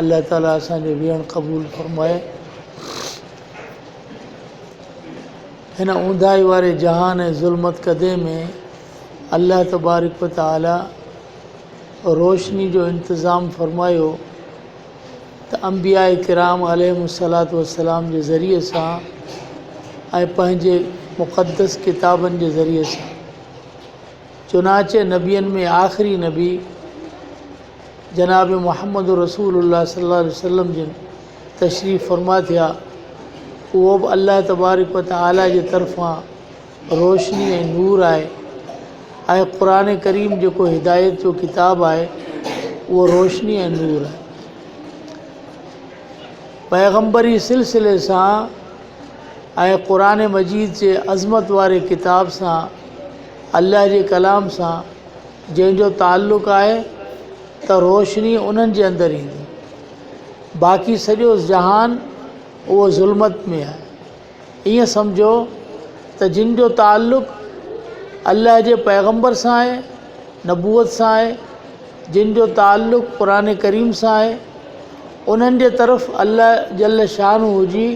الله تعالي اسان جو ويهڻ قبول فرمائي. هن اونداهي واري جهان ۽ ظلمت ڪدي ۾ الله تبارڪ و تعالي روشني جو انتظام فرمايو ته انبياء ڪرام عليهم الصلات والسلام جي ذريعي سان ۽ پنهنجي مقدس ڪتابن جي ذريعي سان چنانچه نبين ۾ آخري نبي جناب محمد رسول الله صلي الله عليه وسلم جن تشريف فرما ٿيا، اهو به الله تبارڪ و تعاليٰ جي طرفان روشني ۽ نور آهي ۽ قرآن ڪريم جيڪو هدايت جو ڪتاب آهي اهو روشني ۽ نور آهي. پيغمبري سلسلي سان ۽ قرآن مجيد جي عظمت واري ڪتاب سان الله جي ڪلام سان جنهن جو تعلق آهي ته روشني انهن جي اندر ايندي. باقي سڄو جهان اهو ظلمت ۾ آهي. ائين سمجهو ته جن جو تعلق الله جي پيغمبر سان آهي، نبوت سان آهي، جن جو تعلق قرآن ڪريم سان آهي، انهن جي طرف الله جل شانه جي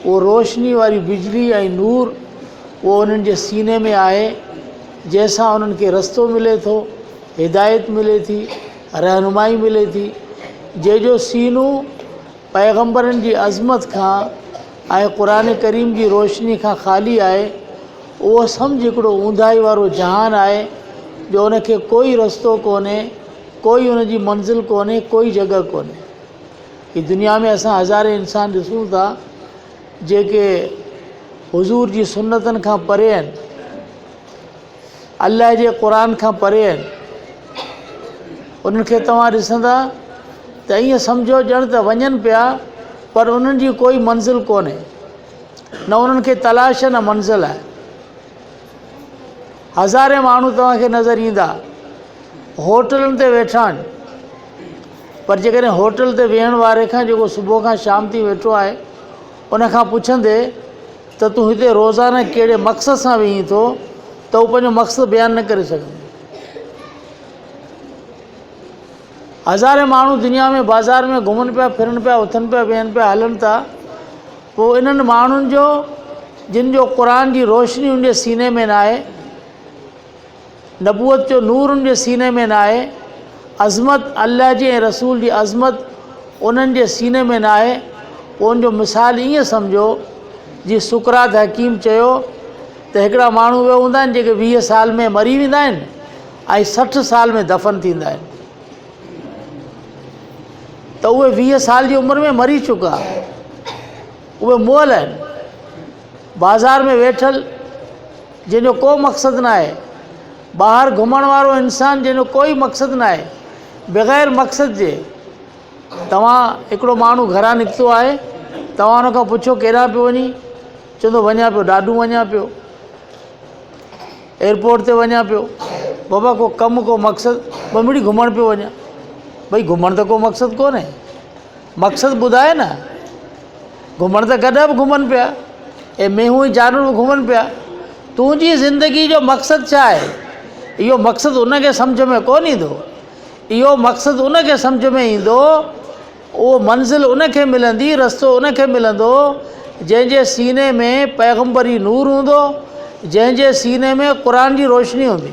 اهو روشني واري بجلي ۽ نور اهو انهن جي سيني ۾ آهي. جنهن سان انهن کي رستو ملي ٿو، هدايت ملي ٿي، رهنمائي ملي ٿي، جنهن جو سينو پيغمبرن جي عظمت کان ۽ قرآن ڪريم جي روشني کان خالي آهي، اهو سمجهه هڪڙو اونداهي وارو جهان آهي، جو ان کي ڪوئي رستو ڪونهي، ڪوئي ان جي منزل ڪونهي، ڪوئي جڳهه ڪونهي. هي دنيا ۾ اسان هزارين انسان ڏسون ٿا، جيڪي حضور جي سنتن کان پري آهن، الله جي قرآن کان پري آهن انهن کي توهان ڏسندا ته ائين سمجهو ڄڻ ته وڃن پيا پر انهن جي ڪوئي منزل ڪونهي نه انهن کي تلاش نه منزل آهي هزارين ماڻهو توهان کي نظر ايندا هوٽلن تي ويٺا آهن پر جيڪڏهن هوٽل تي ويهڻ واري کان جيڪو صبح کان شام تي ويٺو آهي ان کان پڇندي ته تون هتي روزانه ڪهڙي مقصد سان ويهين ٿو ته هو پنهنجو مقصد بيان نه ڪري سگهندو. هزارين ماڻهو دنيا ۾ بازار ۾ گهمن پيا ڦرن پيا اٿن پيا ويهن پيا هلن ٿا پوء انهن ماڻهن جو جن جو قرآن جي روشني ان جي سيني ۾ ناهي نبوت جو نور ان جي سيني ۾ ناهي، عظمت الله جي ۽ رسول جي عظمت انهن جي سيني ۾ ناهي، پوء ان جو مثال ائين سمجهو جيئن سقراط حڪيم چيو ته هڪڙا ماڻهو اهي هوندا آهن جيڪي ويهه سال ۾ مري ويندا آهن ۽ سٺ سال ۾ دفن ٿيندا آهن ته اهي ويهه سال جي عمر ۾ مري چڪا اهي مئل آهن. بازار ۾ ويٺل جنهن جو ڪو مقصد ناهي، ٻاهر گهمڻ وارو انسان جنهن جو ڪوئي مقصد ناهي، بغير مقصد جي توهان هڪڙو ماڻهو گهران نڪتو آهي، توهان ان کان پڇو ڪيڏانهن پيو وڃين؟ چوندو وڃان پيو ڏاڏو وڃان پيو، ايئرپورٽ تي وڃان پيو، بابا ڪو ڪم ڪو مقصد، ٻنمڙي گهمڻ پيو وڃان، ڀئي گهمڻ ته ڪو مقصد ڪونهي. مقصد ٻڌاء نه. گهمڻ ته گڏهه به گهمن پيا ۽ مينهون ۽ جانور به گهمن پيا. تنهنجي زندگيء جو مقصد ڇا آهي؟ اهو مقصد ان کي سمجهه ۾ ڪونه ايندو. اهو مقصد ان کي سمجهه ۾ ايندو، اهو منزل ان کي ملندي، رستو ان کي ملندو، جنهن جي سيني ۾ پيغمبري نور هوندو، جنهن جي سيني ۾ قرآن جي روشني هوندي.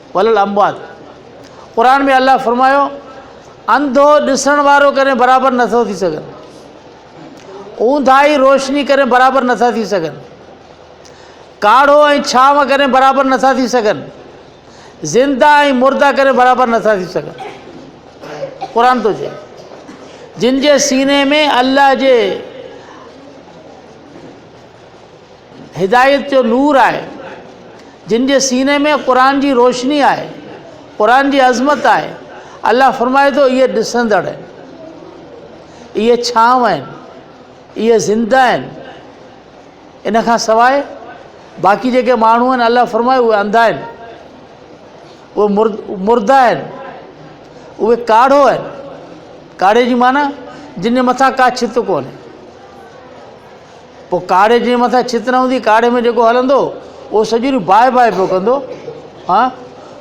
وللاموات، قرآن ۾ الله فرمايو، انڌو ڏسڻ وارو ڪڏهن برابر نه ٿو ٿي سگهن، اونداهي روشني ڪڏهن برابر نه ٿا ٿي سگهن، ڪاڙهو ۽ ڇانو ڪڏهن برابر نه ٿا ٿي سگهن، زنده ۽ مرده ڪڏهن برابر نه ٿا ٿي سگهن. قرآن ٿو چئي جن جي سيني ۾ الله جي هدايت جو نور آهي، جن جي سيني ۾ قرآن جي روشني آهي، قرآن جي عظمت آهي، الله فرمائي ٿو اهي ڏسندڙ آهن، اهي ڇانو آهن، اهي زنده آهن، ان کان سواء باقي جيڪي ماڻهو آهن الله فرمائي اهي انڌا آهن، اهي مرده آهن، اهي ڪاڙهو آهن، ڪاڙهي جي معنيٰ جن جي مٿان ڪا ڇت ڪونهي. پوء ڪاڙهي جنهن مٿان ڇت نه هوندي، ڪاڙهي ۾ جيڪو هلندو، اهو سڄي ريو باهه باهه پيو ڪندو. ها!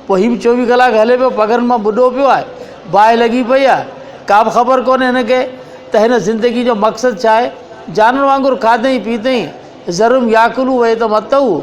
پوء هي به چوويهه ڪلاڪ هلي پيو، پگهرن مان ٻڏو پيو آهي، باهه لڳي پئي آهي. ڪا به خبر ڪونهي هن کي ته هن زندگيء جو مقصد ڇا آهي. جانور وانگر کاڌئين پيتئين، ذرهم ياڪلو ويتم اتهو.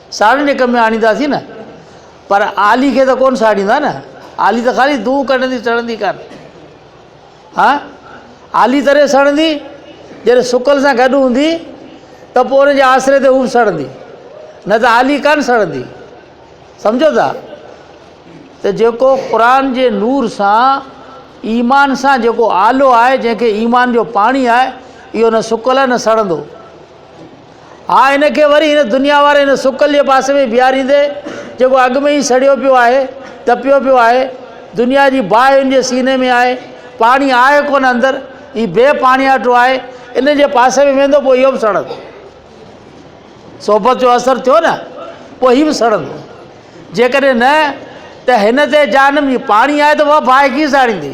ساڙيندي ڪم ۾ آڻينداسين نه، پر عالي کي ته ڪونه ساڙيندا نه، عالي ته خالي دونهون ڪڍندي، سڙندي ڪانه. ها، عالي تڏهن سڙندي، جڏهن سڪل سان گڏ هوندي ته پوء ان جي آسري تي هو به سڙندي، نه ته عالي ڪانه سڙندي. سمجهو ٿا؟ ته جيڪو قرآن جي نور سان، ايمان سان جيڪو آلو آهي، جنهن کي ايمان جو پاڻي آهي، اهو نه سڪل آهي نه سڙندو. آء هن کي وري هن دنيا واري هن سڪل جي پاسي ۾ بيهاريندي، جيڪو اڳ ۾ ئي سڙيو پيو آهي، تپيو پيو آهي، دنيا جي باهه هن جي سيني ۾ آهي، پاڻي آهي ڪونه اندر، هي بي پاڻياٺو آهي، ان جي پاسي ۾ ويندو، پوء اهو به سڙندو. صحبت جو اثر ٿيو نه، پوء هي به سڙندو. جيڪڏهن نه ته هن تي جهنم جي پاڻي آهي ته اها باهه ڪيئن ساڙيندي؟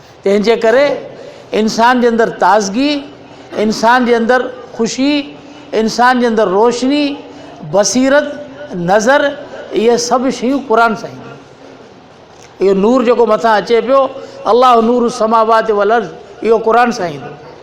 تنهن جي ڪري انسان جي اندر تازگي، انسان جي اندر خوشي، انسان جي اندر روشني، بصيرت، نظر اهي سڀ شيون قرآن سان اينديون. اهو نور جيڪو مٿان اچي پيو الله نور السماوات والارض اهو قرآن سان ايندو.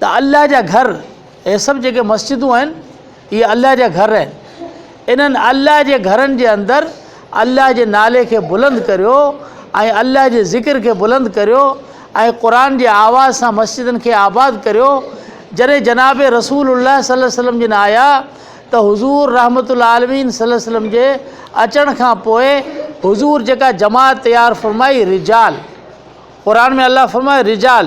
ته الله جا گهر، هي سڀ جيڪي مسجدون آهن، اهي الله جا گهر آهن، انهن الله جي گهرن جي اندر الله جي نالي کي بلند ڪريو ۽ الله جي ذڪر کي بلند ڪريو ۽ قرآن جي آواز سان مسجدن کي آباد ڪريو، جڏهن جناب رسول الله صلي وسلم جن آيا ته حضور رحمة العالمين صلي وسلم جي اچڻ کان پوء حضور جيڪا جماعت تيار فرمائي رجال قرآن ۾ الله فرمايو رجال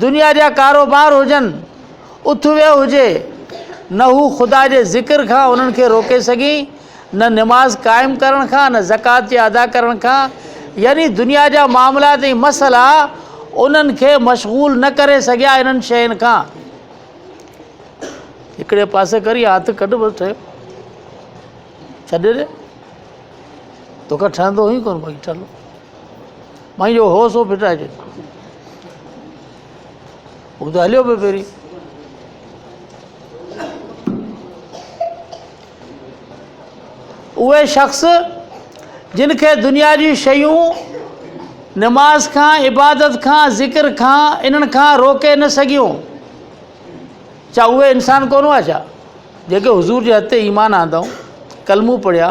دنيا جا ڪاروبار هجن، اٿويو هجي، نه هو خدا جي ذڪر کان انهن کي روڪي سگهي، نه نماز قائم ڪرڻ کان، نه زڪوات جي ادا ڪرڻ کان، يعني دنيا جا معاملات ۽ مسئلا انهن کي مشغول نه ڪري سگهيا انهن شين کان. هڪڙي پاسي ڪر يا هٿ ڪڍ بس ٺهيو ڇڏي ڏي توکان ٺهندو هئي ڪونه باقي ٺهندو مئن جو هو سو ڦٽائجي. هو ته هليو پيو پهرين. اهي شخص جن کي دنيا جون شيون نماز کان عبادت کان ذڪر کان انهن کان روڪي نه سگهيون ڇا اهي انسان ڪونه هئا ڇا جيڪي حضور جي هٿ تي ايمان آندائون ڪلمون پڙهيا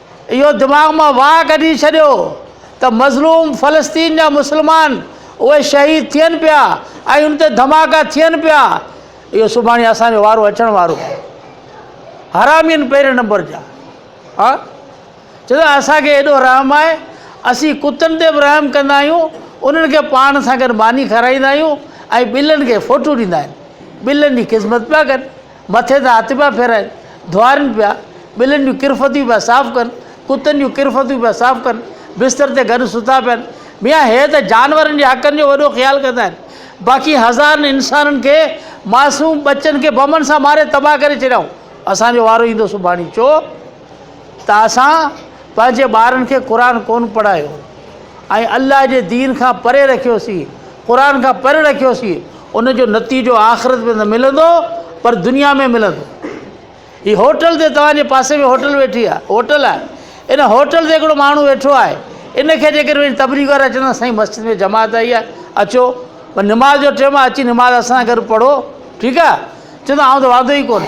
اهو دماغ مان واهه ڪڍي ڇڏيو ته مظلوم فلسطين جا مسلمان اهي شهيد ٿين پيا ۽ ان تي ڌماڪا ٿين پيا اهو سڀاڻي اسان جو وارو اچڻ وارو حرامين پهرين نمبر جا ها چوندو اسان کي ايڏو رحم آهي اسين ڪتن تي به رحم ڪندا آهيون انهن کي پاڻ سان گڏ ماني کارائيندا آهيون ۽ ٻلن کي فوٽو ڏيندا آهن ٻلن جي خدمت پيا ڪن مٿي تان هٿ پيا ڦيرائين، ڌوئارين پيا، ٻلين جون ڪرفتيون پيا صاف ڪن، ڪتن جون ڪرفتيون پيا صاف ڪن، بستر تي گڏ ستا پيا آهن. ميان هي ته جانورن جي حقن جو وڏو خيال ڪندا آهن، باقي هزارن انسانن کي، معصوم ٻچن کي بمن سان ماري تباهه ڪري ڇڏيائون. اسان جو وارو ايندو سڀاڻي چو. ته اسان پنهنجي ٻارن کي قرآن ڪونه پڙهايو ۽ الله جي دين کان پري رکيوسين، قرآن کان پري رکيوسين، ان جو نتيجو آخرت ۾ نه ملندو پر دنيا ۾ ملندو. هي هوٽل تي توهان جي پاسي ۾ هوٽل ويٺي آهي، هوٽل آهي، ان هوٽل تي هڪڙو ماڻهو ويٺو آهي، ان کي جيڪڏهن وڃي تبليغ وارا چوندا سائين مسجد ۾ جماعت آئي آهي اچو پر نماز جو ٽيم آهي اچي نماز اسان سان گڏ پڙهو ٺيڪ آهي، چوندو آئون ته واندو ئي ڪونه.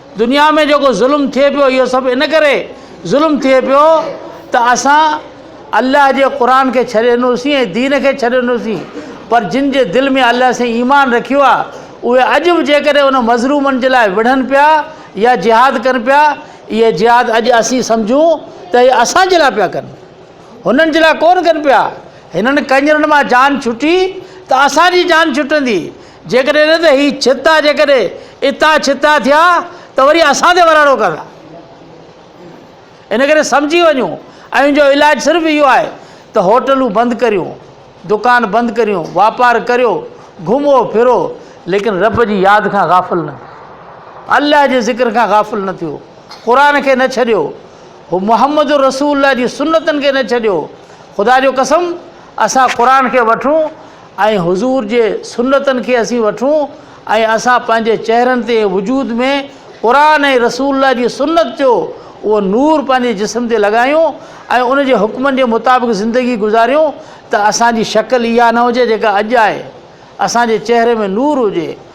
دنيا ۾ جيڪو ظلم ٿئي پيو اهو سڀ ان ڪري ظلم ٿئي پيو ته اسان الله جي قرآن کي ڇڏي ڏنوسين ۽ دين کي ڇڏي ڏنوسين پر جن جي دل ۾ الله سائين ايمان رکيو آهي اهي اڄ به جيڪڏهن ان مظلومن جي لاء وڙهن پيا يا جهاد ڪن پيا اهي جهاد اڄ اسين سمجهون ته اهي اسان جي لاء پيا ڪن هنن جي لاء ڪون ڪن پيا هنن ڪنجرن مان جان ڇٽي ته اسان جي جان ڇٽندي جيڪڏهن نه ته هي ڇتا جيڪڏهن اتان ڇتا ٿيا ته وري اسان تي وراڻو ڪندا ان ڪري سمجهي وڃو ۽ جو علاج صرف اهو آهي ته هوٽلون بند ڪريو دڪان بند ڪريو واپار ڪريو گهمو ڦرو ليڪن رب جي ياد کان غافل نه الله جي ذڪر کان غافل نه ٿيو قرآن کي نه ڇڏيو هو محمد رسول الله جي سنتن کي نه ڇڏيو خدا جو قسم اسان قرآن کي وٺون ۽ حضور جي سنتن کي اسين وٺون ۽ اسان پنهنجي چهرن تي ۽ وجود ۾ قرآن ۽ رسول الله جي سنت جو اهو نور پنهنجي جسم تي لڳايون ۽ ان جي حڪمن جي مطابق زندگي گذاريون ته اسان جي شڪل اها نه هجي جيڪا اڄ آهي اسان جي چهري ۾ نور هجي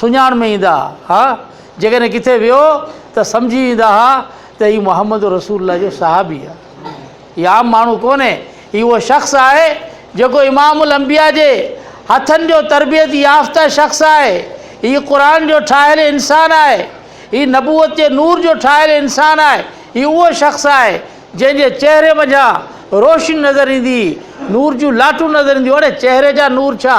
سڃاڻ ۾ ايندا ها، جيڪڏهن ڪٿي ويو ته سمجهي ويندا ها ته هي محمد رسول الله جو صحابي آهي. هي عام ماڻهو ڪونهي، هي اهو شخص آهي جيڪو امام الانبياء جي هٿن جو تربيت يافته شخص آهي، هي قرآن جو ٺاهيل انسان آهي، هي نبوت جي نور جو ٺاهيل انسان آهي، هي اهو شخص آهي جنهن جي چهري منجهان روشني نظر ايندي، نور جون لاٽون نظر اينديون، اڙي چهري جا نور ڇا!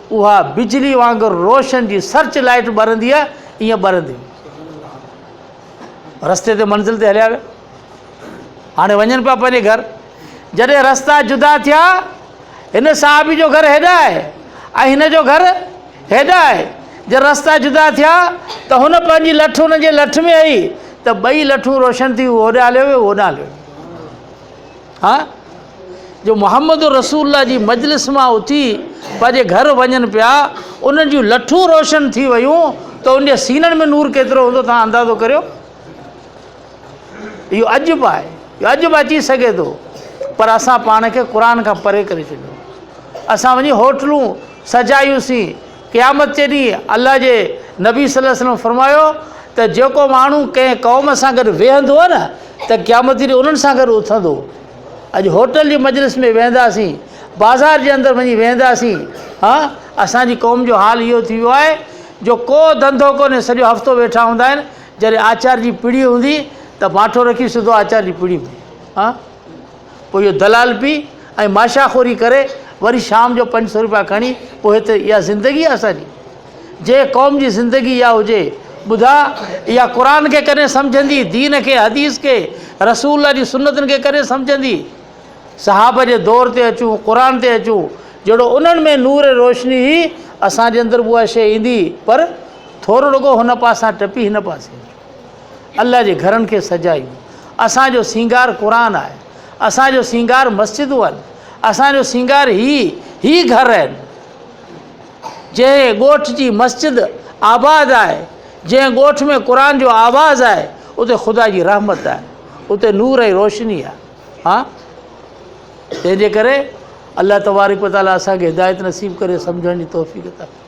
اها بجلي وانگر روشن جي سرچ لائيٽ ٻرندي آهي ايئن ٻرندي هئي. رستي تي منزل تي هليا ويا. هاڻي وڃن پيا پنهنجي گهر. جڏهن رستا جدا ٿيا هن صحابي جو گهر هيڏا آهي ۽ هن جو گهر هيڏا آهي جڏهن رستا جدا ٿيا ته هن پنهنجي لٺ هن جي لٺ ۾ هئي ته ٻئي لٺون روشن ٿي هو هوڏانهن هليو ويو هو هوڏانهن هليو ويو ها جو محمد رسول الله جي مجلس مان اٿي پنهنجي گهر وڃن پيا انهن جون لٺون روشن ٿي ويون ته ان جي سينن ۾ نور ڪيترو هوندو توهان اندازو ڪريو اهو عجب آهي اهو عجب اچي سگهي ٿو پر اسان پاڻ کي قرآن کان پري ڪري ڇڏيو اسان وڃي هوٽلون سجايوسين قيامت جي ڏينهن الله جي نبي صلي الله عليه وسلم فرمايو ته جيڪو ماڻهو ڪنهن قوم سان گڏ ويهندو نه ته قيامت جي ڏينهن انهن سان گڏ اٿندو اڄ هوٽل جي مجلس ۾ ويهنداسين بازار جي اندر وڃي ويهنداسين ها اسان جي قوم جو حال اهو ٿي ويو آهي جو ڪو ڌنڌو ڪونهي سڄو هفتو ويٺا هوندا آهن جڏهن آچار جي پڙي هوندي ته ماٺو رکي سڌو آچار جي پڙي ۾ ها پوء اهو دلال پي ۽ ماشا خوري ڪري وري شام جو پنج سؤ روپيا کڻي پوء هت اها زندگي آهي اسان جي جنهن قوم جي زندگي اها هجي ٻڌا اها قرآن کي ڪڏهن سمجهندي دين کي حديث کي رسول الله جي سنتن کي ڪڏهن سمجهندي صحابه جي دور تي اچون قرآن تي اچون جهڙو انهن ۾ نور روشني هئي اسان جي اندر به اها شي ايندي پر ٿورڙڪو هن پاسان ٽپي هن پاسي الله جي گهرن کي سجايون، اسان جو سينگار قرآن آهي، اسان جو سينگار مسجدون آهن، اسان جو سينگار هي هي گهر آهن، جنهن ڳوٺ جي مسجد آباد آهي، جنهن ڳوٺ ۾ قرآن جو آواز آهي، اتي خدا جي رحمت آهي، اتي نور ۽ روشني آهي. ها تنهن جي ڪري الله تبارڪ وتعاليٰ اسان کي هدايت نصيب ڪري سمجهڻ جي توفيق عطا ڪري.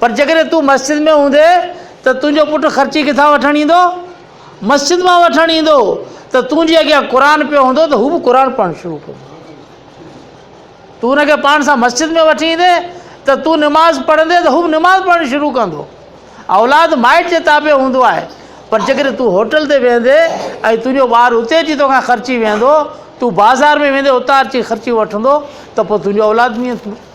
پر جيڪڏهن تون مسجد ۾ هوندين ته تنهنجو پٽ خرچي ڪٿان وٺڻ ايندو؟ مسجد مان وٺڻ ايندو ته تون جي اڳيان قرآن پيو هوندو ته هو به قرآن پڙهڻ شروع ڪندو تون هن کي پاڻ سان مسجد ۾ وٺي ايندين ته تون نماز پڙهندين ته هو به نماز پڙهڻ شروع ڪندو اولاد مائٽ جي تابع هوندو آهي پر جيڪڏهن تون هوٽل تي ويندين ۽ تنهنجو ٻار اتي اچي توکان خرچي ويندو تون بازار ۾ ويندين اتان اچي خرچي وٺندو ته پوء تنهنجو اولاد ائين ٿيندو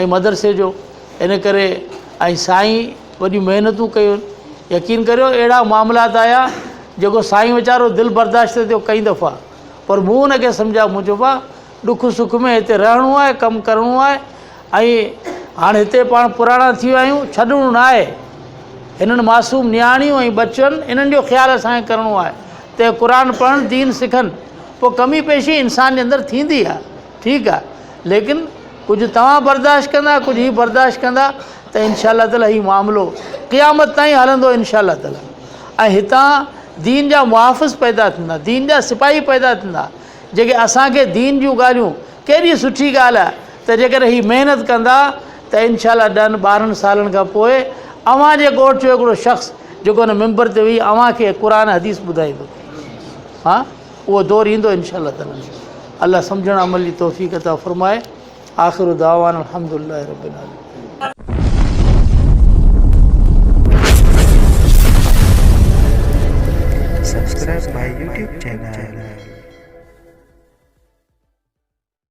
۽ مدرسي جو ان ڪري ۽ سائين وڏيون محنتون ڪيون يقين ڪريو اهڙا معاملات آيا جيڪو سائين ويچارو دل برداشت ٿيو ڪئي دفعا پر مون ان کي سمجهايو مون چيو با ڏک سک ۾ هتي رهڻو آهي ڪم ڪرڻو آهي ۽ هاڻ هتي پاڻ پراڻا ٿي ويا آهيون ڇڏڻو نه آهي هنن معصوم نياڻيون ۽ بچن انهن جو خيال اسانکي ڪرڻو آهي ته قرآن پڙهن دين سکن پوء ڪمي پيشي انسان جي اندر ٿيندي آهي ٺيڪ آ ليڪن ڪجهه توهان برداشت ڪندا ڪجهه هي برداشت ڪندا ته انشاء الله تعالي هي معاملو قيامت تائين هلندو انشاء الله تعالي ۽ هتان دين جا محافظ پيدا ٿيندا دين جا سپاهي پيدا ٿيندا جيڪي اسانکي دين جون ڳالهيون ڪيڏي سٺي ڳالهه آ ته جيڪڏهن هي محنت ڪندا ته انشاء الله ڏهن ٻارهن سالن کان پوء اوهان جي ڳوٺ جو هڪڙو شخص جيڪو هن ممبر تي ويهي اوهانکي قرآن حديث ٻڌائيندو ها اهو دور ايندو انشاء الله تعالي الله سمجهڻ عمل جي توفيق عطا فرمائي آخر دعوان الحمد لله رب العالمين Subscribe my YouTube channel.